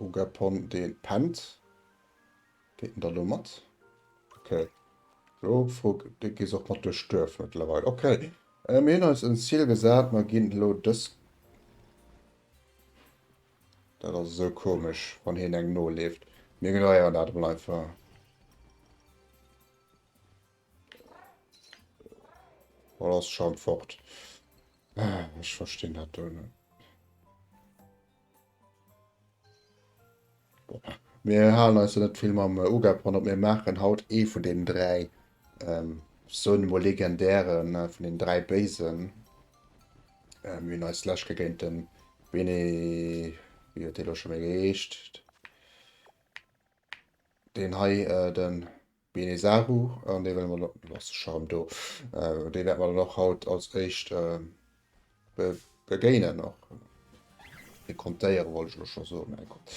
Ugepon dee pennt. Geet en da lo mat? Ok. Lo fro de gees och mat duerch d'Duerf mëttlerweil. Ok. Mir hunn eis en Zil gesat. Mer ginn elo dës. Dat ass esou komesch, wann hien engem noleeft. Mir ignoréieren dat emol einfach. Oder ass scho fort? Ech verstinn dat do net. Mir halen eis do net vill mam Ugab dran, op mir maachen haut ee vun den dräi, ähm, soen emol legendären, vun den dräi Béisen. Mir hunn eis d'lescht Kéier géint den Bene... wéi huet dee elo scho méi geheescht? Deen hei, den... Bene Saru, an déi wëlle mer dann, do ass de Charme do, déi wäerte mer dann och haut als éischt begéinen, och dekontéieren wollt ech elo scho soen, mä gutt.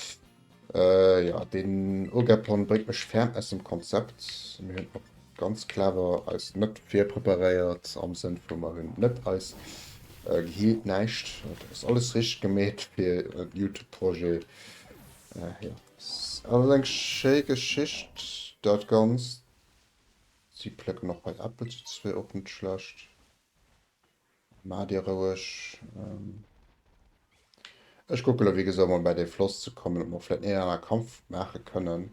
Jo, deen Ogeplan bréngt mech ferm aus dem Konzept. Mir hunn och ganz clever eis net virpreparéiert am Sënn vu mer hunn net eis gehealt näischt, et ass alles richteg gemeet fir e Youtube-Projet, jo. S, Et ass eng schéi Geschicht dat Ganzt. Si plécken och bei Äppel si zwee och net schlecht. Maa dir roueg. Ech kucke lo wéi gesot emol bäi dee Floss ze kommen, ob mer vläit den een oder anere Kampf maache kënnen.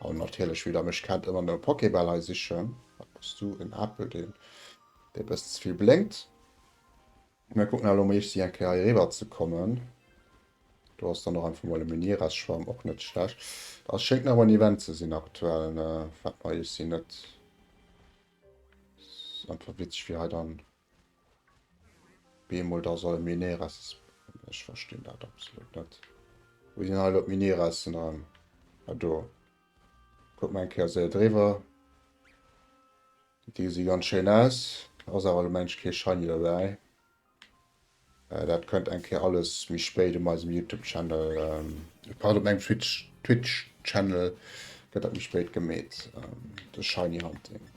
An natierlech wieder, ech kennt ëmmer no Pokébäll hei sichen. Wat bass du? En Apel deen e bëssen ze vill blénkt. Mir kucken elo mol ichsi eng Kéier hei eriwwer ze kommen. Do ass dann och einfach mol e Menirestaurant, och net schlecht. Ass schéngt nach en Event ze sinn aktuell, wat mer ichsi net. Ass einfach witzeg wéi hei dann bemol da soll e Menires. Ech verstinn dat absolut net. Wou sinn hei elo d'Meniressen an? Ah do. Kuck mer eng Kéier se eriwwer. Déi gesi ganz schéin aus, ass awer lo mensch kee Shiny dobäi. Dat kënnt eng Kéier alles méi spéit op meisem Youtube Channel, pardon op mengem Twitch Twitch Channel gëtt dat méi spéit gemeet, de Shiny Hunting.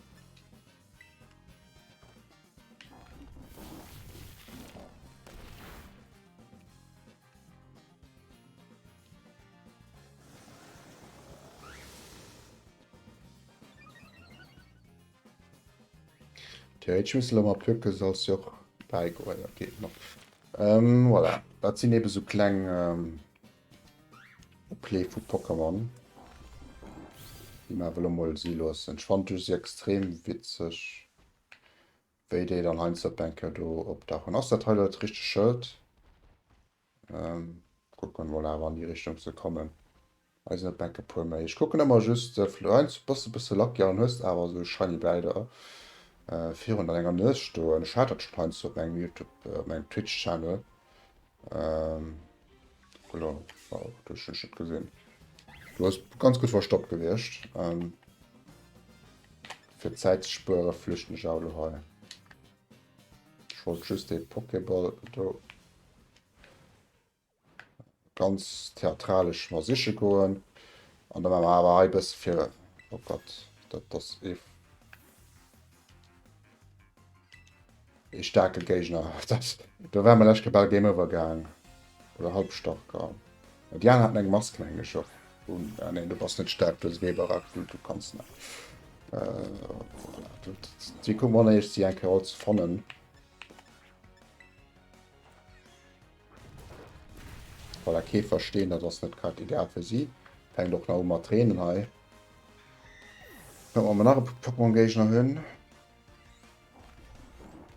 Okay, ich muss mal gucken, soll es ja auch beigoen. Okay, no. ähm, voilà. Das sind eben so kleine ähm, Play von Pokémon. Die man will mal sie lassen. Ich fand das extrem witzig. Wéi déi dann heinst dat Bänker do op der hun ass dat hei dat richteg Schëld. Kucken emol awer an déi Richtung ze kommen. Hei sinn et Bänke puer méi. Ech kucken emmer just vlei heinst bass de bësse lucky an hues awer esou shiny Bläider virun an enger Nues stoen. Ech hat dat schon heinst op mengem Youtube op mengem Twitch Channel. Ähm, voilà, war auch durch den Schritt gesehen. Du hast ganz gut verstoppt gewicht. Ähm, für Zeit zu spüren, flüchten ich auch hei. Ich wollte just den Pokéball do ganz theatralisch mal sicher gehen. Und dann haben wir aber ein bisschen für. Oh Gott, das, das ist. Ee staarke Géigner. Do ware mer lescht Kéier bal Game Over gaang. Oder halb stark. An déi aner haten eng Mask, mengen ech, och un. Ah neen, du bass net staark, du hues Weber aktiviert, du kanns net. Déi kucken an eischt si eng Kéier all ze fannen. Voilà, Käfer stehen, dat ass net grad ideal fir si. Fänkt och nach u mat reenen hei. Kucken, ob mer nach e Pokémon-Géigner hunn.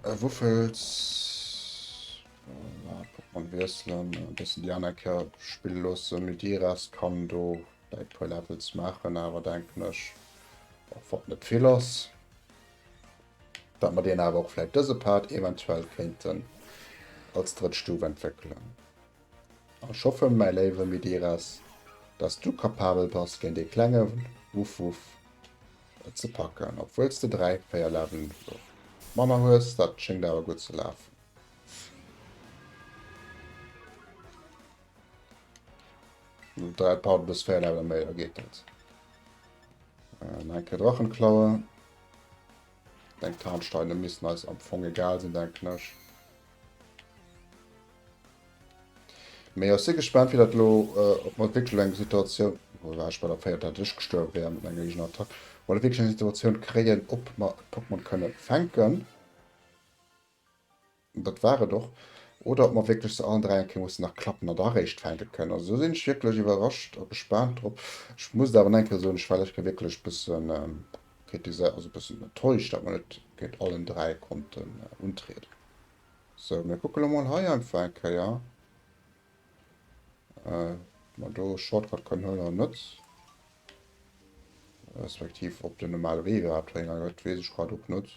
Äh Wuffels, voilà, Pokémon wiesselen, e bëssen déi aner Kär spille loossen. Mydiras kann do däi puer Levels maachen, awer denken ech och wat net vill ass. Dat mer deen awer och vläit dëse Part eventuell kéinten als drëtt Stuf entwéckelen. Ech hoffen, mäi léiwe Medeiros, dass du kapabel bass, géint dee klenge Wuff Wuff et ze packen, obwuel s de dräi, véier Level manner hues. Dat schéngt awer gutt ze lafen. No dräi Parten hues véier Leveler méi, da geet dat. Eng Kéier Drachenklaue. Deng Tarnsteine missten eis am Fong egal sinn, denken ech. Mee ech si gespaant, wéi dat lo, ob mer wierklech eng Situatioun, wou war ech bei der véierter, datt ech gestuerwe wäer mat menger eegener Attack, ob mer wierklech eng Situatioun kréien, ob mer e Pokémon kënne fänken. Dat war et och. Oder ob mer wierklech zu allen dräi eng Kéier mussen nach klappen an da eréischt fänke kënnen. Also do sinn ech wierklech iwwerrascht a gespaant drop. Ech muss et awer nach eng Kéier soen, ech war lech Kéier wierklech e bësse kritiséiert, also e bëssen enttäuscht, datt mer net géint allen dräi konnten untrieden. Sou, mir kucke lo mol hei einfach eng Kéier, ob mer do e Shortcut kënnen huelen oder net. Respektiv ob den normale Wee iwwerhaapt Rénger gëtt, weess ech grad och net.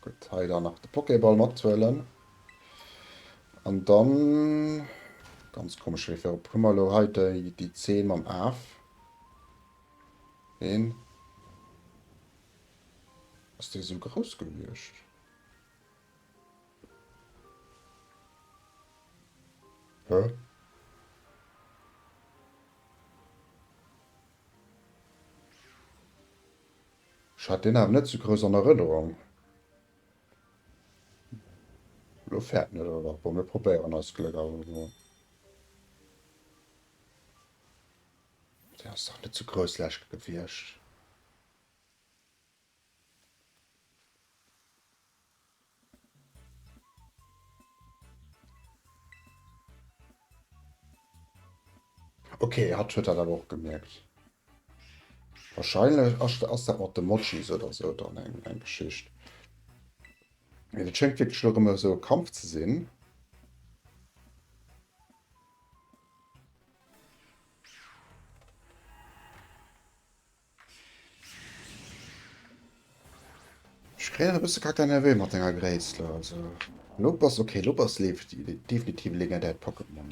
Gutt, hei dann nach de Pokéball mathuelen. An dann, ganz komesch Wee fir op, hu mer elo hei déi Zeen mam Af. Een. Ass dee esou grouss gewiescht? Hä? Ech hat deen awer net sou grouss an Erënnerung. Lo fäert en et awer dach. Bon, mir probéieren eist Gléck awer emol. Deen ass dach net sou grouss lech gewiescht. Okay, hatt huet dat awer och gemierkt. Wahrscheinlech ass dat mat de Mojis oder sou dann eng eng Geschicht. Et schéngt wierklech elo erëm esou e Kampf ze sinn. Ech kréien e bësse Kacke Nervé mat denger Gréisst do. Also elo bass ok, elo bass Leafy definitiv e legendäert Pokémon.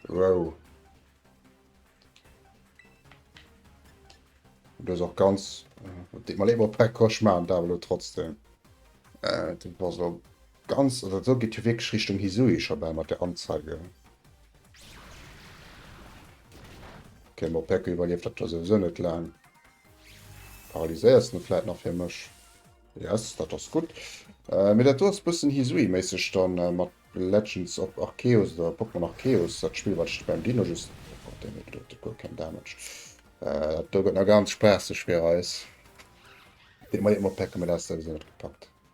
Wow. Du ass och ganz. Deet mer leed, Pack Cauchemar, awer elo trotzdem. Äh, du bass op. Ganz oder esou geet jo wierklech Richtung Hisui scho bal mat der Anzeige. Okay, ma Peko iwwerlieft dat jo souwisou net laang. Paralyséiers en e vläit nach fir mech. Yes, dat ass gutt. Mee dat do ass bëssen Hisui-méisseg dann mat Legends of Arceus oder Pokémon Arceus, dat Spill wat ech de beim Dino just, oh Gott, deen huet elo guer keng Damage. Dat do gëtt nach ganz spaasseg fir eis. Dee Maillot mat Peko, mee dat ass souwisou net gepackt.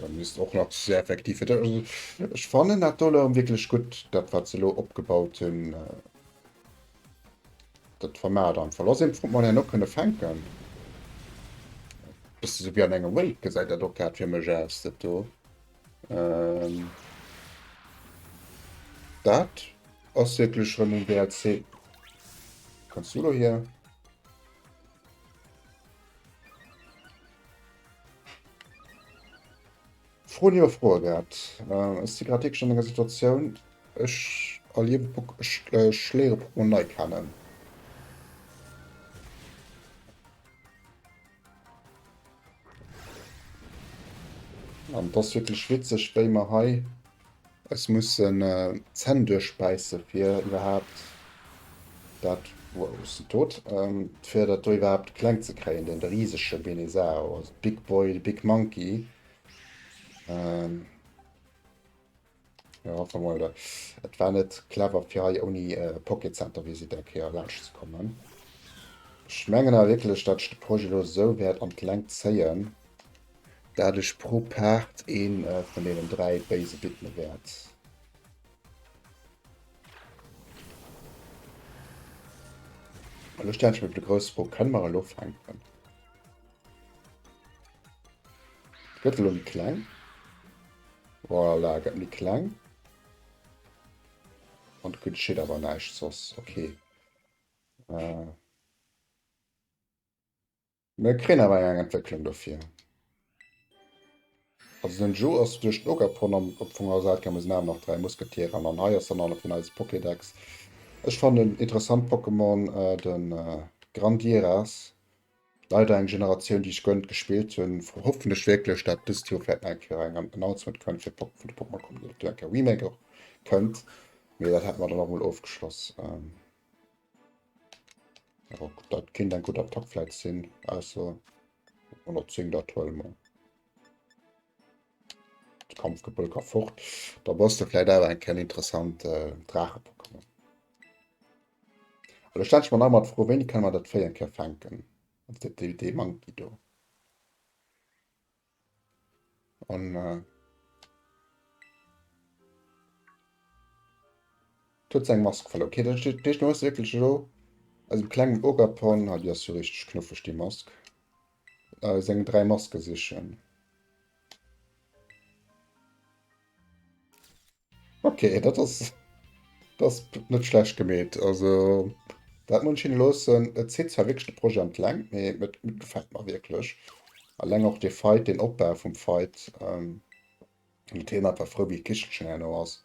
Dat misst och nach sehr effektiv fir dech. Ech fannen dat Dollar wierklech gutt, dat wat se lo opgebaut hunn. Dat vermaat einfach. Lass een Front mal herno kënne fänken. Bist du so wie an enger Welt gesäit dat och grad fir mech aus dat do. Ähm, dat ass wierklech rëm um DLC. Kannst du lo hier? Froen iwwer Froe gehat. Ech si grad wierklech an enger Situatioun, ech erliewe Pok-, ech léiere Pokémon nei kennen. An et ass wierklech witzeg, wéi mer hei Ech mussen d'Zänn duerchbäisse fir iwwerhaapt dat, wow ech sinn tot, fir dat do iwwerhaapt kleng ze kréien, deen de risege Benezao, also big boy, big monkey, jo enfin voilà. Et war net clever fir hei ouni Poké Center Visite eng Kéier laanscht ze kommen. Ech mengen awer wierklech dat ech de Projet elo esou wäert an d'Längt zéien, dat ech pro Paart ee vun deenen dräi Béise widme wäert. Elo stellen ech mir de grouss Fro, Kënne mer elo fänken? Gëtt elo méi kleng. Voilà, gëtt méi kleng. An et geschitt awer näischt soss. Okay. Äh. Mir kréien awer eng Entwécklung dofir. Also den Joe ass duerch den Ogapon an op d'Fongerer Säit gaang, mee sinn awer nach dräi Musketieren an an hei ass dann alle vun eis Pokédex. Ech fannen en interessant Pokémon de Grandiras. Leider eng Generatioun déi ech guer net gespillt hunn. Hoffen ech wierklech dat dëst Joer vläit nach eng Kéier eng Announcement kënnt fir Pok vun de Pokémon Communauté, eng Kéier Remake och kënnt, mee dat haten mer dann och mol ofgeschloss. Oh, dat kind eng gut Attack fläit sinn also 110 dat huel mer. Kampfgebëll ka fort. Da bass de fläit awer eng ken interessant äh, Drache Pokémon. Oder stand man mat fro wéini kann man dat Véi eng Kéier fänken. Dee Manki do. An äh, huet seg Mask verlo. Okay, dat heescht, du hues wierklech elo aus dem klengen Ogapon, ah, déi ass jo richteg knuffeg, déi Mask, äh, seng dräi Maske sichen. Ok dat ass ass net schlecht gemeet. Also dat muss ech hinne loossen. Et zitt zwar wierklech de Projet an d'Längt, mee et gefält mer wierklech. Alleng och dee Fight, deen Opbau vum Fight. Et heem einfach frou wéi d'Kichelchen herno ass.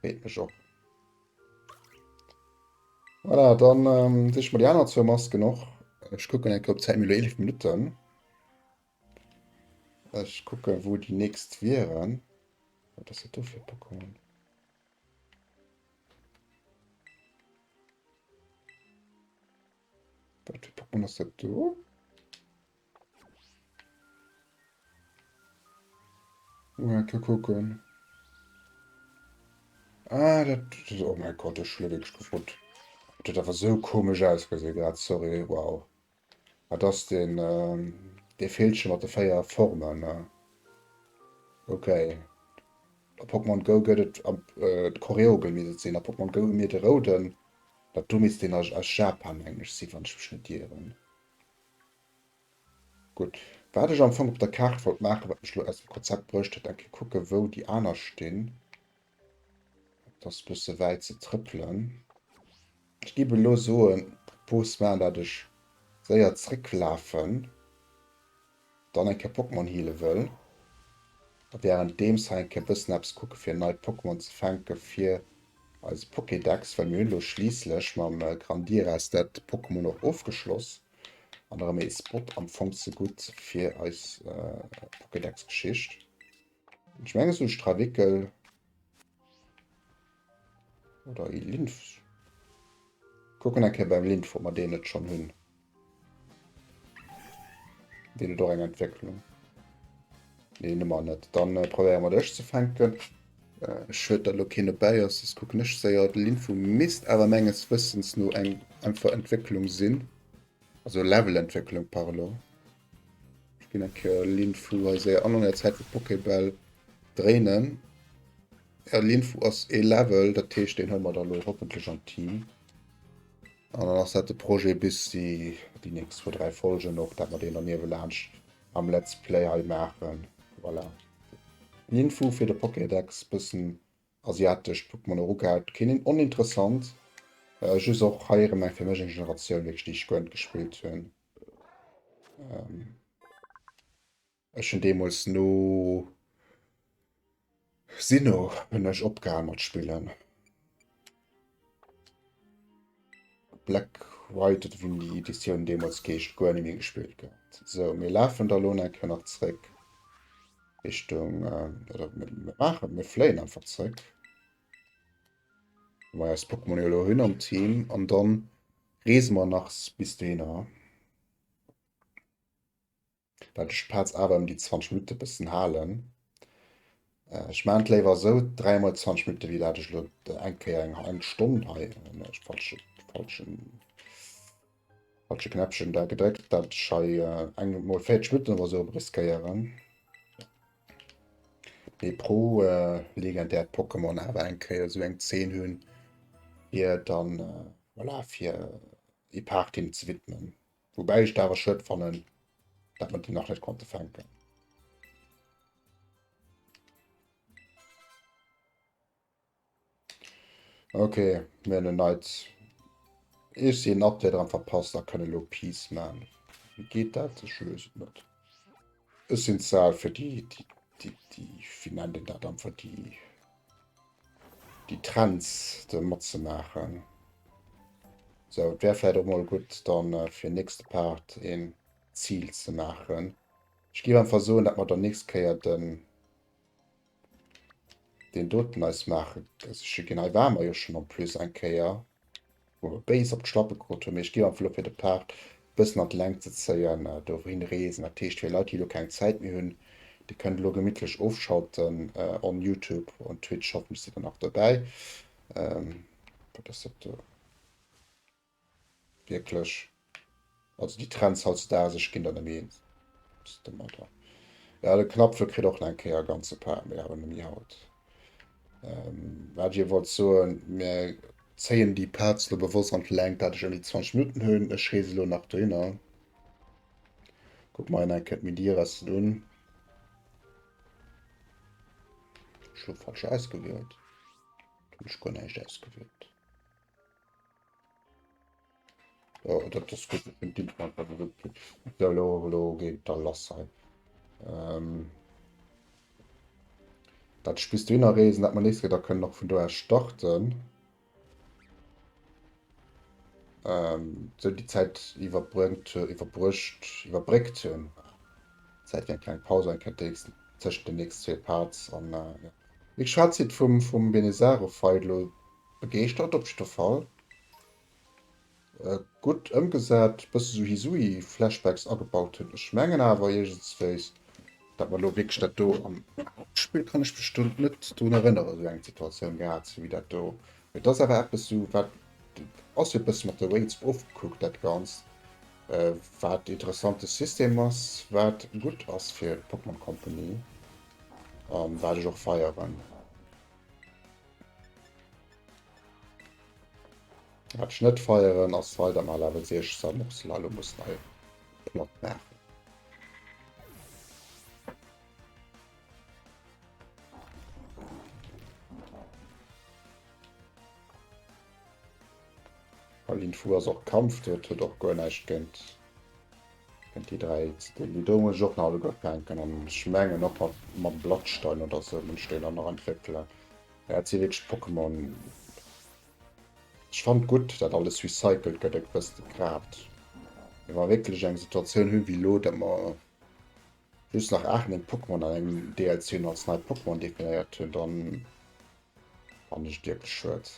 Freet mech och. Voilà, dann siche mer déi aner zwou Masken och. Ech kucken eng Kéier op d'Zäit, mir elo 11 Minutten. Ech kucken wou déi nächst wieren. Wat ass dat do fir Pokémon? Wat fir Pokémon ass dat do? Mal ke kucken. Ah, dat, dat oh mein Gott, ech schlo wéineg gefrot. Dat awer so komesch ausgesinn grad, sorry, wow. Wat ass deen dee Villchen mat de 4 Formen? Ok a Pokémon Go gëtt et am de Koreogel misst et sinn a Pokémon Go hu mir de rouden dat do misst deen a aus Japan meng ech sinn wann ech mech net ieren. Gutt wat ech am Fong op der Kaart wollt maachen wat mech lo aus dem Konzept bruecht huet enke kucke wou déi aner stinn Et ass bësse wäit ze trëppelen. Ech géif elo soen, propose moi, dat ech séier zrécklafen, dann eng Kéier Pokémon heale wëll, a währenddeems hei eng Kéier bëssen eppes kucke fir nei Pokémon ze fänke fir eise Pokédex, well mir hunn elo schliisslech mam Grandiras dat Pokémon och ofgeschloss an erëm ee Spot am Fong ze gutt fir eis Pokédex-Geschicht. Ech menge sou Strawickel oder e Linf. Kucken eng Kéier beim Linf, ob mer deen net schonn hunn. Deen huet och eng Entwécklung. Nee, nëmmer net. Dann äh, probéiere mer dech ze fänken. Ech huet der lo keen dobäi ass, dës kucken ech séier. De Linfo misst awer menges Wëssens no eng einfach Entwécklung sinn. Also Levelentwécklung par elo. Ech ginn eng Kéier Linfu hei séier an an der Zäit wou d'Pokébäll dréinen. Ja Linfu ass ee Level, dat heescht deen hëllen mer da elo hoffentlech an d'Team. An dann ass dat de Projet bis déi déi nächst zwou, dräi Folgen och, dat mer deen dann niewelaanscht am Let's Play hei maachen. Voilà. Linfu fir de Pokédex bëssen Asiatescht Pokémon eru gehat, keen een oninteressant, just och hei erem eng fir mech eng Generatioun wierklech déi ech guer net gespillt hunn. Ech hunn deemols no Sinnoh hunn ech opgehal mat spillen. Black White oder wéi déi Editioun deemools geescht, guer net méi gespillt gehatt. So mir lafen da lo eng Kéier nach zréck Richtung äh, oder mir maachen, mir fléien einfach zréck, wou mer eis Pokémon jo elo hunn am Team, an dann reese mer nach bis dohinner. well ech d'Pads awer ëm déi 20 Minutte bëssen halen. Ech maan et léiwer esou, 3 mol 20 Minutte wéi dat ech lo eng Kéier eng eng Stonn hei ech falsche falschen falsche Knäppchen da gedréckt, dat ech hei eng mol 40 Minutten oder esou riskéieren. Mee pro legendäert Pokémon awer eng Kéier esou eng 10 hunn, fir dann voilà fir ee Part him ze widmen. Woubäi ech et awer schued fannen, datt mer déi nach net konnte fänken. Okay, mir hunn en neit Ech si en Update dran verpasst a kënne lo Peace man. Wie geet dat? Ech lös et net. Ech sinn ze al fir déi déi déi déi wie nennt een dat einfach déi déi Trends do matzemaachen. Sou, et wär vläit och mol gutt dann fir den nächste Part een Zil ze maachen. Ech géif einfach soen, dat mer dann nächst Kéier den deen doten eis maachen. Also ech ginn hei war mer jo schonn en plus eng Kéier. wou mir béis op d'Schlappe krut hunn, mee ech géif am vlou fir de Part e bëssen an d'Längt ze zéien, do wou hin reesen. Dat heescht, fir Leit déi elo keng Zäit méi hunn, dir kënnt elo gemittlech ofschalten on Youtube, on Twitch, hoffentlech sidd der nach dobäi. Wat ass dat do wierklech? Also déi Trends hautzdaags, ech ginn der nëmme een, ass de Madra. Ja, de Knapfel kritt och nach eng Kéier e ganze Par, mee awer nëmme haut. Ähm, wat ech iech wollt soen, mir zéien déi Parts elo bewosst an d'Längt, dat ech ouni 20 Minutten hunn. Ech reese elo nach dohinner, kucke mer hinnen eng Kéier d'Midi-Resten un. Ech hu falsch ausgewielt, hunn ech guer näischt ausgewielt. Ja, dat ass gutt, ech hunn d'Internet grad net opkritt. Et soll och elo géint da lass sein. Ähm, dat ech bis dohinner reesen, dat mer nees geet, a kënnen och vun do aus starten. Ähm, sou déi Zäit iwwerbréngt, iwwerbruecht, iwwerbréckt hunn. Zäit fir eng kleng Paus enkentdeessen, tëschent den nächst zwee Parts an, äh, ja. Wéi geschwat, zitt vum, vum Benezarofeid elo Begeeschtert op jidder Fall. Gutt ëmgesat, bësse sou Hisui Flashbacks agebaut hunn. Ech mengen awer iergendswéis dat mer elo wierklech dat do am Hauptspill kann ech mech do net drun erënneren sou eng Situatioun gehat ze hunn wéi dat do. Mee et ass awer eppes sou wat ass jo e bësse mat de Wraiths ofgekuckt dat Ganzt, wat e interessante System ass, wat gutt ass fir d'Pokémon Company a wat ech och feieren. Hat ich net feieren ass weiter mal Level 16 noch Slalom muss nei Plot nach. Pauline Fu ass och Kampf, dat huet och guer näischt géint Kënnt déi 3 ze dinn. Déi do muss ech och nach alleguer fänken an ech mengen och mat mam Blattstein oder sou muss ech déi dann nach entwéckelen. Ja et si wierklech Pokémon. Ech fannt gutt dat alles recycelt gëtt, et wësst et grad wa mer wierklech eng Situatioun hunn wéi elo, datt mer. Just nach 8 Pokémon an engem DLC no als nei Pokémon definéiert hunn, dann fand ech wirklich schued.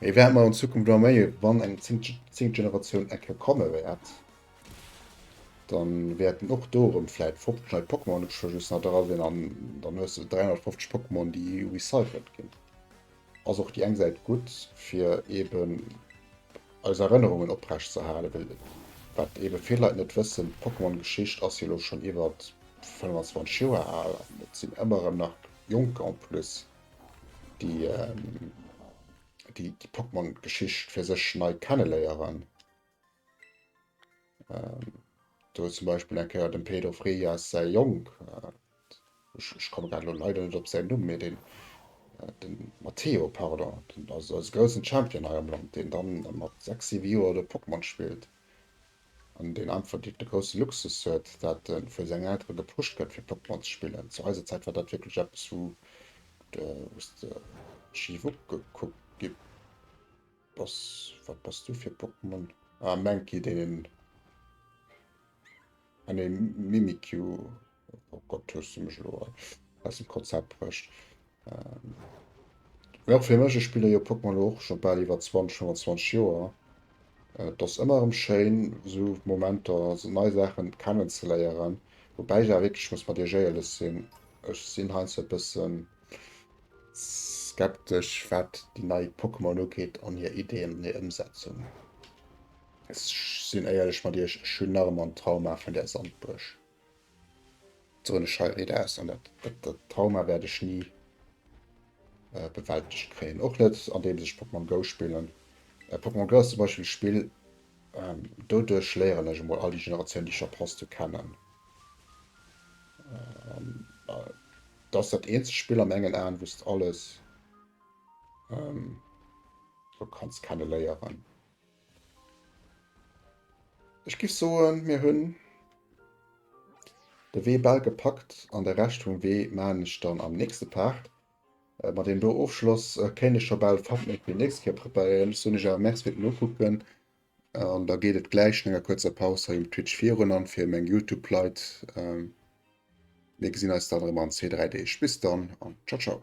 Mir wären mal in Zukunft noch méi, wann eng 10 Generation Ecke komme wäert, dann wäerten och dorem vielleicht 50 neue Pokémon just nach dra sinn an dann hues du 350 Pokémon, déi recycelt ginn. Ass och déi eng Säit gutt fir eben eis Erënnerungen oprecht ze halen, well wat eben vill Leit net wëssen, d'Pokémon Geschicht ass jo elo schonn iwwert 25 Joer al an et sinn ëmmer erëm nach Jonker en plus déi déi Pokémon Geschicht fir sech nei kenneléieren. Ähm, do zum Beispiel eng Kéier dem Pedro Freias säi Jong, äh, ich, ich komme gerade leider nicht op säin Numm, mir den, äh, den Matteo, pardon, den, also als großen Champion hei am Land, den dann mat 6, 7 Joer oder Pokémon spielt. An den einfach de große Luxus huet, dat äh, vu seng Elteren gepusht gëtt fir Pokémon ze spillen. Zu eiser Zäit war dat wirklich etwas, wo de, wo de schief ugekuckt gi Bass, wat bass du fir Pokémon? Ah Mankey deen een, ah nee Mimikyu, oh Gott hues du mech elo aus dem Konzept bruecht. Mee och fir mech, ech spille jo Pokémon elo och scho bal iwwer 20, 25 Joer, et ass ëmmer erëm schéin esou Momenter, esou nei Saachen kennen ze léieren, woubäi ech awer wierklech muss mat Iech éierlech sinn, ech sinn heiansdo e bëssen Skeptesch wat déi nei Pokémon ugeet an hir Ideen an hir Ëmsetzung. Ech sinn éierlech mat iech, ech hunn nach ëmmer en Trauma vun där Sandbuerg. Soen ech hei riit aus an dat, dat, dat Trauma wäert ech ni äh, bewältegt kréien. Och net andeems ech Pokémon Go spillen. Äh, Pokémon Go ass zum Beispiel e Spill, ähm, doduerch léieren ech emol all déi Generatioun déi ech verpasst hu kennen. Ähm, äh, Dass dat eenzegt Spill an mengen Aen wous de alles lo kanns kenne léieren. Ech giff soen mir hunn de Wee bal gepackt an de Rescht vum Wee maan ech dann am nächste Part. Ma deem do Ofschloss kéint ech scho bal Thumbnail fir déi nächst Kéier preparéieren. Ech soen iech awer Merci fir d'Nokucken An da geet et gläich no enger kuerzer Paus hei um Twitch virun an fir meng Youtube-Leit. Ähm, mir gesinn eis dann erëm an zwee, dräi Deeg. Bis dann an ciao, ciao.